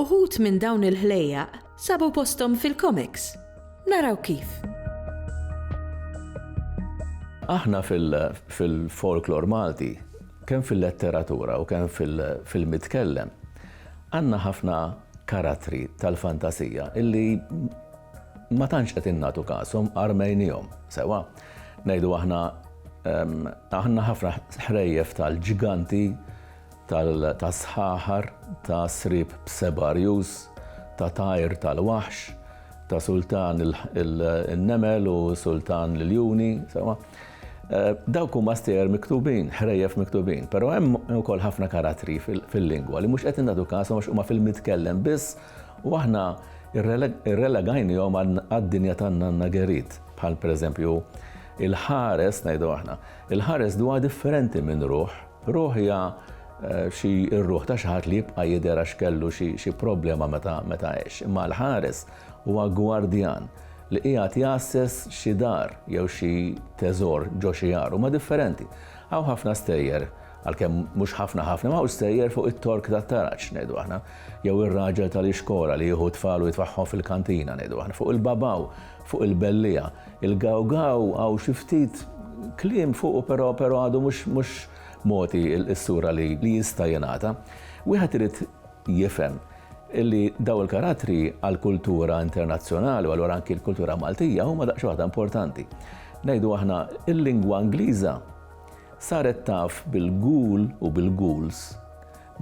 Uħud minn dawn il-ħlejjaq sabu posthom fil-komiks. Naraw kif. Aħna fil-folklor Malti, kemm fil-letteratura u kemm fil-mitkellem, għandna ħafna karattri tal-fantasija illi ma tantx qed innatu kasom armejnihom sewa. Ngħidu aħna ehm, aħna ħafna ħrejjef tal-ġiganti ta' sħaħar, ta' sriep b'seba' rjus, ta' tajr tal-waħx, ta' sultan in-nemel u sultan l-iljuni, sewwa. Dawk huma stejjer miktubin, ħrejjef miktubin, però hemm ukoll ħafna karattri fil-lingwa li mhux qed nagħtu kasom għax huma fil-mitkellem biss u aħna rrelegajnihom għad-dinja tan-nanna Gerit, bħal pereżempju il-ħares ngħidu aħna. Il-ħares d'huwa differenti minn ruħ. Ruħ hija xi r-ruħ ta' xi ħadd li jibqa' jidher għax kellu xi xi problema meta meta għex. Imma l-ħares huwa gwardjan li qiegħed jgħasses xi dar jew xi teżor ġo xi għar. Huma differenti. Hawn ħafna stejjer, għalkemm mhux ħafna ħafna, imma hawn stejjer fuq it-tork tat-taraġ, ngħidu aħna, jew ir-raġel tal-ixkora li jieħu t-tfal u jitfagħhom fil-kantina, ngħidu aħna, fuq il-babaw Fuq il-belliegħa. Il-gawgaw hawn xi ftit kliem fuqu però però għadu mhux mhux mogħti s-sura li li jista' jingħata. Wieħed irid jifhem li daw il-karattri għall-kultura internazzjonali u allura anki l-kultura Maltija huma daqsxi waħda importanti. Ngħidu aħna il-lingwa Ingliża saret taf bil-ghoul u bil-ghouls.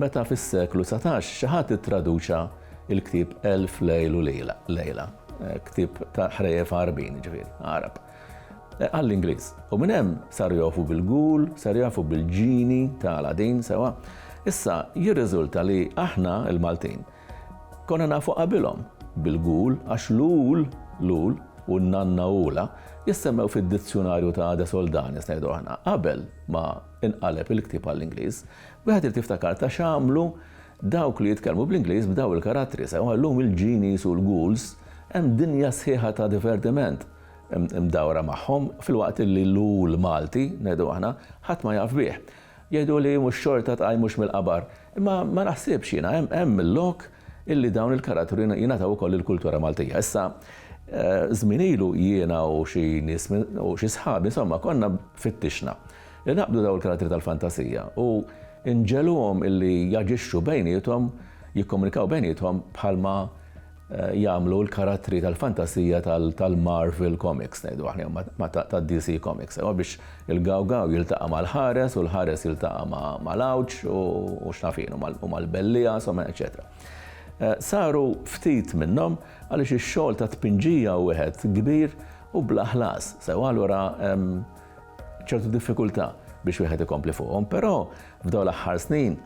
Meta fis-seklu dsatax xi ħadd ittraduċa l-ktieb Elf Lejl u Lejla, ktieb ta' ħrejjef Għarbin, jiġifieri Għarab, għall-Ingliż. U minn hemm saru jogħrfu bil-Ghoul, saru jogħrfu bil-Ġini ta' Aladdin, sewwa. Issa jirriżulta li aħna, il-Maltin, konna nafu qabilhom bil-Ghoul għax l-Ghoul, l-Ghoul, u n-Nanna Ghoula jissemmew fid-dizzjunarju ta' De Soldanis, ngħidu aħna, qabel ma inqaleb il-ktieb għall-Ingliż. Wieħed irid jiftakar ta' x'għamlu dawk li jitkellmu bl-Ingliż b'daw il-karattri, sewwa llum il-genies u l-ghouls hemm dinja sħiħa ta' divertiment mdawra magħhom filwaqt li l-ghoul Malti, ngħidu aħna, ħadd ma jaf bih. Jgħiduli mhux xorta tqajmux mill-qabar, imma ma naħsibx jiena, hemm il-lok illi dawn il-karattri jingħataw ukoll lill-kultura Maltija. Issa, żmien ilu jiena u xi nies u xi sħabi insomma konna fittixna. Inaqqdu dawn il-karattri tal-fantasija u nġegħluhom illi jaġixxu bejniethom, jikkomunikaw bejniethom bħalma jagħmlu l-karattri tal-fantasija tal-Marvel Comics, ngħidu aħna, jew tad-DC Comics. Imma biex il-gawgaw jiltaqa' mal-ħares u l-ħares jiltaqa' mal-għawġ u x'naf jien, u mal-belliegħa, insomma, eċċetera. Saru ftit minnhom għaliex ix-xogħol tat-tpinġija hu wieħed kbir u bla ħlas, sewwa allura ċertu diffikultà biex wieħed ikompli fuqhom, però f'dawn l-aħħar snin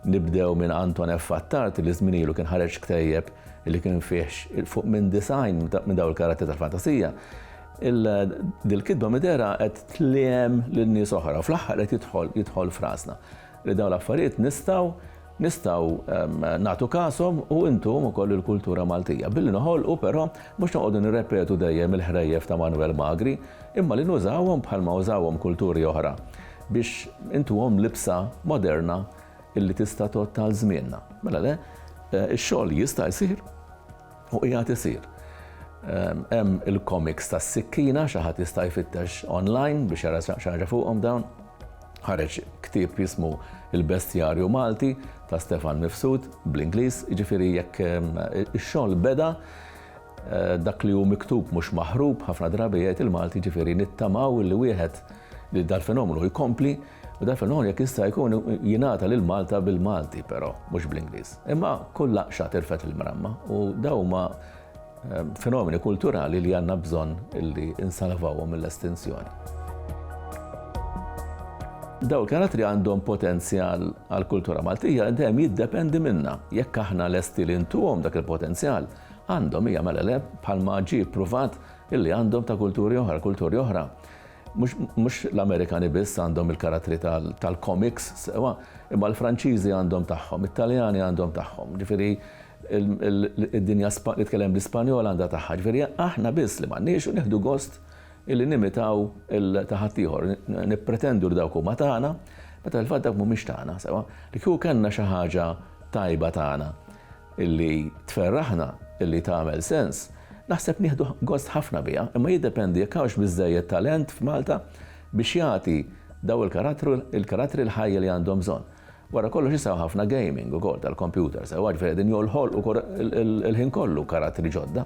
nibdew minn Anton F. Attard li żminielu kien ħareġ ktejjeb li kien fih fuq minn design minn dawn il-karatteri tal-fantasija. Dil-kitba midera qed tliem lil nies oħra u fl-aħħar qed jidħol jidħol frasna li dawn l-affarijiet nistgħu nistgħu nagħtu kashom u intuhom ukoll il-kultura Maltija, billi noħolqu però mhux noqogħdu nirrepetu dejjem il-ħrejjef ta' Manwel Magri, imma li nużawhom bħalma użawhom kulturi oħra biex intuhom libsa moderna illi tista' tgħodd għal żmienna. Mela le, ix-xogħol jista' jsir. U qiegħed isir. Hemm il-komiks tas-sikkina, xi ħadd jista' jfittex online biex jara xi ħaġa fuqhom dawn. Ħareġ ktieb jismu Il-Bestjarju Malti ta' Stefan Mifsud bl-Ingliż, jiġifieri jekk ix-xogħol beda Eh, dak li hu miktub mhux maħrub ħafna drabi jgħid il-Malti ġifieri nittamaw li wieħed li dal-fenomenu jkompli U dan fil-ħon jekk jista' jkun jingħata lil Malta bil-Malti però, mhux bl-Ingliż. Imma kull laqxa tirfed il-mramma u dawn huma ehm, fenomeni kulturali li għandna bżonn li insalvawhom mill-estinzjoni. Daw il-karattri għandhom potenzjal għal kultura Maltija li dejjem jiddependi minna. Jekk aħna lesti li ntuhom dak il-potenzjal, għandhom hija mela le bħalma ġie pruvat illi għandhom ta' kulturi oħra, kulturi oħra. Mhux l-Amerikani biss għandhom il-karattri tal-komiks sewwa, imma l-Franċiżi għandhom tagħhom, it-Taljani għandhom tagħhom, ġifieri d-dinja li tkellem bl-Ispanjol għandha tagħha. Ġifieri aħna biss li m'għandniex u nieħdu gost illi nimitaw ta' ħaddieħor, nippretendu li dawk huma tagħna, meta fil-fatt dawk mhumiex tagħna sewwa. Li kieku kellna xi ħaġa tajba tagħna. li tferraħna, li tagħmel sens, naħseb nieħdu gost ħafna biha, imma jiddependi jekk hawnx biżżejjed talent f'Malta biex jagħti dawn il-karattri l-ħajja li għandhom bżonn. Wara kollox issa hawn ħafna gaming ukoll tal-kompjuter sewwa, ġifieri qegħdin joħolqu il-ħin kollu karattri ġodda.